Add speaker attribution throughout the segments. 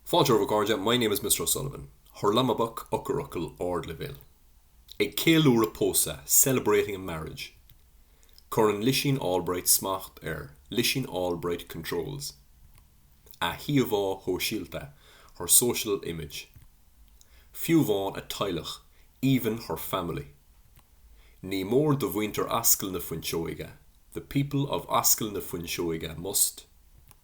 Speaker 1: Fáilte romhaibh a chairde, My name is Mr O'Sullivan. Hurlamaboc, eochairfhocail, Ardleibhéal. Ag ceiliúradh pósadh, celebrating a marriage. Cuireann Lisín Albright smacht ar, Lisín Albright controls. A híomhá shóisialta, her social image. Fiú amháin a teaghlach, even her family. Ní mór do mhuintir Ascaill na Fuinseoige, the people of Ascaill na Fuinseoige must.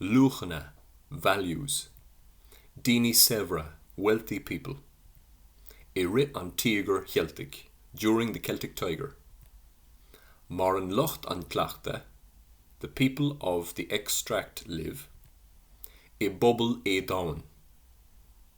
Speaker 1: luachanna, values, daoine saibhre, wealthy people, i rith an Tíogair Cheiltigh, during the Celtic Tiger. Maireann lucht an chleachta, the people of the extract live, i bpobal éadomhain.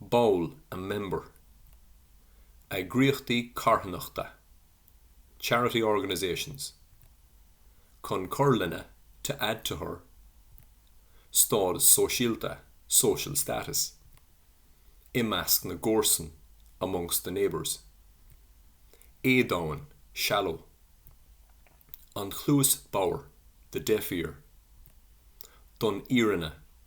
Speaker 1: Ball, a member. Eagraíochtaí carthanachta, charity organisations. Chun cur lena, to add to her. Stádas sóisialta, social status. I measc na gcomharsan, amongst the neighbours. Éadomhain, shallow. An chluas bodhar, the deaf ear. Don fhírinne,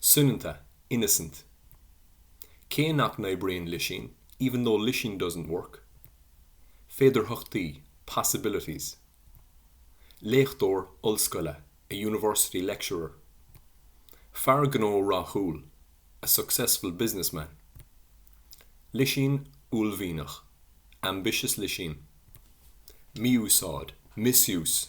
Speaker 1: Soineanta, innocent. Cé nach n-oibríonn Lisín, even though Lisín doesn't work. Féidearthachtaí, possibilities. Léachtóir ollscoile, a university lecturer. Fear gnó rathúil, a successful business man. Lisín uaillmhianach, ambitious Lisín. Mí-úsáid, misuse.